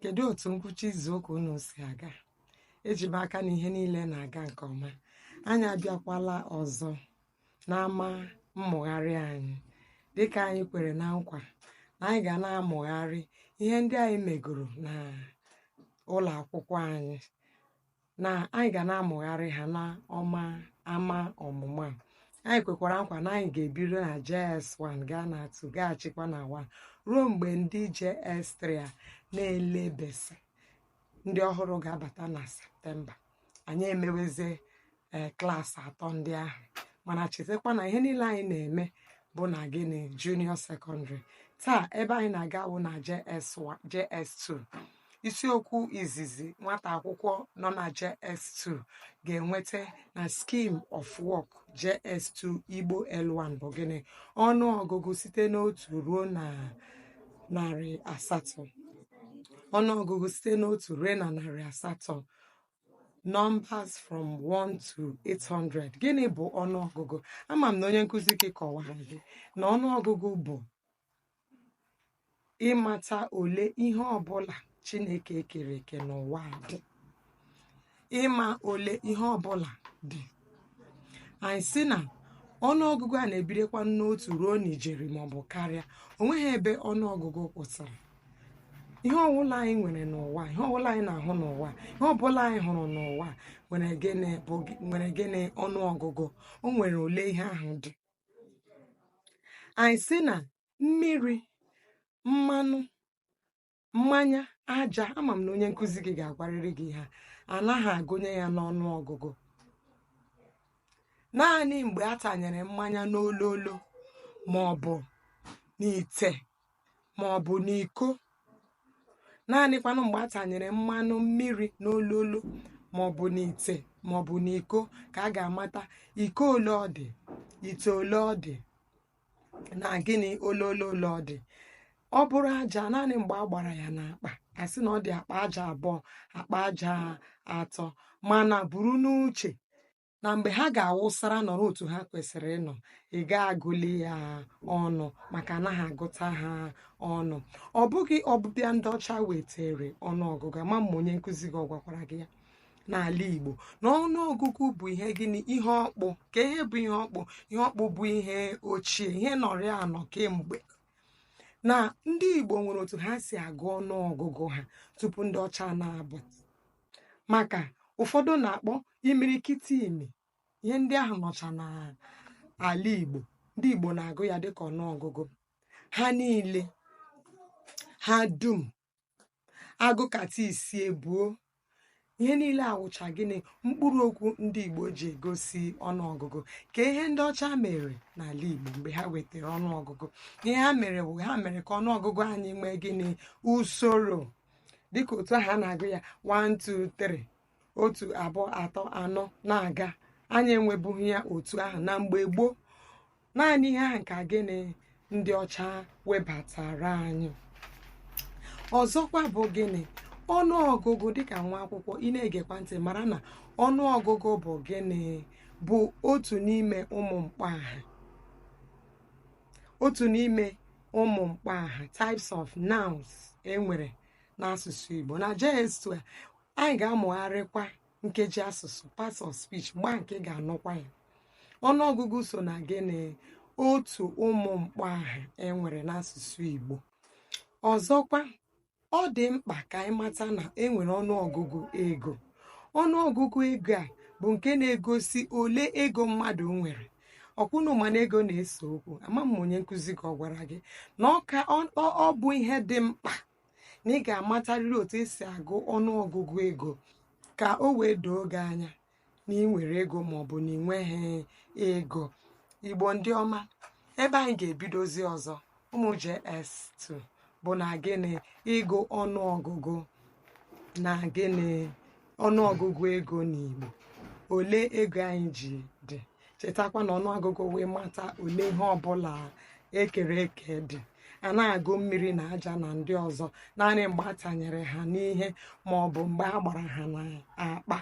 kedu otu ngwụcha izuụka unu si aga eji m aka na ihe niile na-aga nke ọma anyị abịakwala ọzọ n'ama mmụgharị anyị dịka anyị kwere na nkwa na anyị ga na-amụgharị ihe ndị anyị megoro na ụlọ akwụkwọ anyị na anyị ga na-amụgharị ha n'ọma ama ọmụmụ a anyị kwekwara nkwa na anyị ga-ebido na JS1 gaa na 2 gaghachikwa na 1 ruo mgbe ndị JS3 a na-ele BECE ndị ọhụrụ ga-abata na septemba anyị emewezie ee klaasị atọ ndị ahụ mana chetakwa na ihe niile anyị na-eme bụ na gịnị junior secondary taa ebe anyị na-aga bụ na JS1 JS2 isiokwu izizi nwata akwụkwọ nọ na JS2 ga-enweta na Scheme of Work JS2 Igbo L1 bụ gịnị ọnụ ọgụgụ site n'otu ruo na narị asatọ ọnụ ọgụgụ site n'otu ruo na narị asatọ numbers from 1 to 800 gịnị bụ ọnụọgụgụ ama m na onye nkụzi gị kọwara gị na ọnụọgụgụ bụ ịmata ole ihe ọbụla chineke kere eke n'ụwa a dị ịma ole ihe ọbụla dị anyị sị na ọnụọgụgụ a na-ebidokwa n'otu ruo n'ijeri maọbụ karịa o nweghị ebe ọnụọgụgụ kwụsịrị ihe ọbụla anyị nwere n'ụwa ihe ọbụla anyị na-ahụ n'ụwa ihe ọbụla anyị hụrụ n'ụwa nwere gịnị bụ nwere gịnị ọnụọgụgụ o nwere ole ihe ahụ dị anyị sị na mmiri mmanụ mmanya aja ama m na onye nkụzi gị ga-agwarịrị gị ha anaghị agụnye ya n'ọnụ ọgụgụ naanị mgbe a tanyere mmanya n'ololo ma ọ bụ n'ite ma ọ bụ n'iko naanịkwanụ mgbe a tanyere mmanụ mmiri n'ololo ma ọ bụ n'ite ma ọ bụ n'iko ka a ga-amata iko ole ọ dị ite ole ọ dị na gịnị ololo ole ọ dị ọ bụrụ aja naanị mgbe a gbara ya n'akpa a sị na ọ dị akpa aja abụọ akpa aja atọ mana buru n'uche na mgbe ha ga-awụsara nọrọ otu ha kwesịrị ịnọ ị ga-agụli ya ọnụ maka anaghị agụta ha ọnụ ọ bụghị ọbịbịa ndị ọcha wetere ọnụọgụgụ ama m ma onye nkụzi gị ọ gwakwara gị ya n'ala Igbo na ọnụọgụgụ bụ ihe gịnị ihe ọkpụ ka ihe bụ ihe ọkpụ ihe ọkpụ bụ ihe ochie ihe nọrị anọ kemgbe na ndị Igbo nwere otu ha si agụ ọnụọgụgụ ha tupu ndị ọcha na-abụ maka ụfọdụ na-akpọ imirikiti imi ihe ndị ahụ nọcha n'ala Igbo ndị Igbo na-agụ ya dịka ọnụọgụgụ ha niile ha dum agụkata isi ebuo ihe niile awụcha gịnị mkpụrụ okwu ndị Igbo ji egosi ọnụọgụgụ ka ihe ndị ọcha mere n'ala Igbo mgbe ha wetara ọnụọgụgụ ihe ha mere bụ ha mere ka ọnụọgụgụ anyị nwee gịnị usoro dịka otu ahụ a na-agụ ya 1 2 3 otu abụọ atọ anọ na-aga anyị enwebughị ya otu ahụ na mgbe gboo naanị ihe ahụ ka gịnị ndị ọcha webatara anyị ọzọkwa bụ gịnị ọnụ ọgụgụ dịka nwa akwụkwọ ị na-egekwa ntị mara na ọnụ ọgụgụ bụ gịnị bụ otu n'ime ụmụ mkpọ aha otu n'ime ụmụ mkpọ aha types of nouns enwere n'asụsụ Igbo na JS2 anyị ga-amụgharịkwa nkeji asụsụ parts of speech mgbe ahụ ka ị ga-anụkwa ya ọnụọgụgụ so na gịnị otu ụmụ mkpọ aha enwere n'asụsụ Igbo ọzọkwa ọ dị mkpa ka anyị mata na enwere ọnụọgụgụ ego ọnụọgụgụ ego a bụ nke na-egosi ole ego mmadụ nwere ọ kwa ụnụ ma na ego na-ese okwu ama m onye nkụzi gị ọ gwara gị na ọ bụ ihe dị mkpa na ị ga-amatarịrị otu esi agụ ọnụ ọgụgụ ego ka o wee doo gị anya na ị nwere ego ma ọ bụ na ị nweghị ego igbo ndị ọma ebe anyị ga-ebidozi ọzọ ụmụ JS2 bụ na gịnị ịgụ ọnụ ọgụgụ na gịnị ọnụ ọgụgụ ego n'igbo ole ego anyị ji dị chetakwa na ọnụọgụgụ wee mata ole ihe ọbụla ekere eke dị a na-agụ mmiri na aja na ndị ọzọ naanị mgbe a tanyere ha n'ihe ma ọ bụ mgbe a gbara ha n'akpa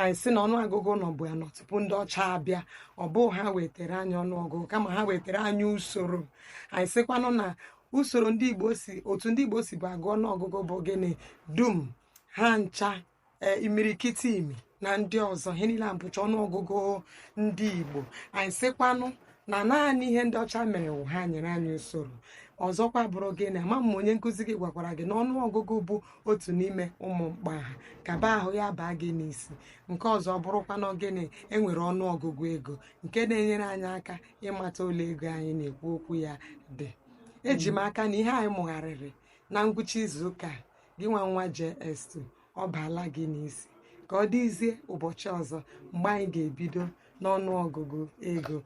anyị sị na ọnụọgụgụ nọbu ya anọ tupu ndị ọcha abịa ọ bụghị ha wetara anyị ọnụọgụgụ kama ha wetara anyị usoro anyị sịkwanụ na usoro ndị igbo si otu ndị igbo sibu agụ ọnụọgụgụ bụ gịnị dum ha ncha ee imirikiti imi na ndị ọzọ ihe niile a bụcha ọnụọgụgụ ndị igbo anyị sịkwanụ na naanị ihe ndị ọcha mere wụ ha nyere anyị usoro ọzọkwa bụrụ gịnị ama m onye nkụzi gị gwakwara gị na ọnụọgụgụ bụ otu n'ime ụmụ mkpọ aha ka ebe ahụ ya baa gị n'isi nke ọzọ bụrụkwanụ gịnị enwere ọnụọgụgụ ego nke na-enyere anyị aka ịmata ole ego anyị na-ekwu okwu ya dị eji m aka na ihe anyị mụgharịrị na ngwụcha izu ụka a gịnwa nwa JS2 ọ baala gị n'isi ka ọ dịzie ụbọchị ọzọ mgbe anyị ga-ebido n'ọnụ ọgụgụ ego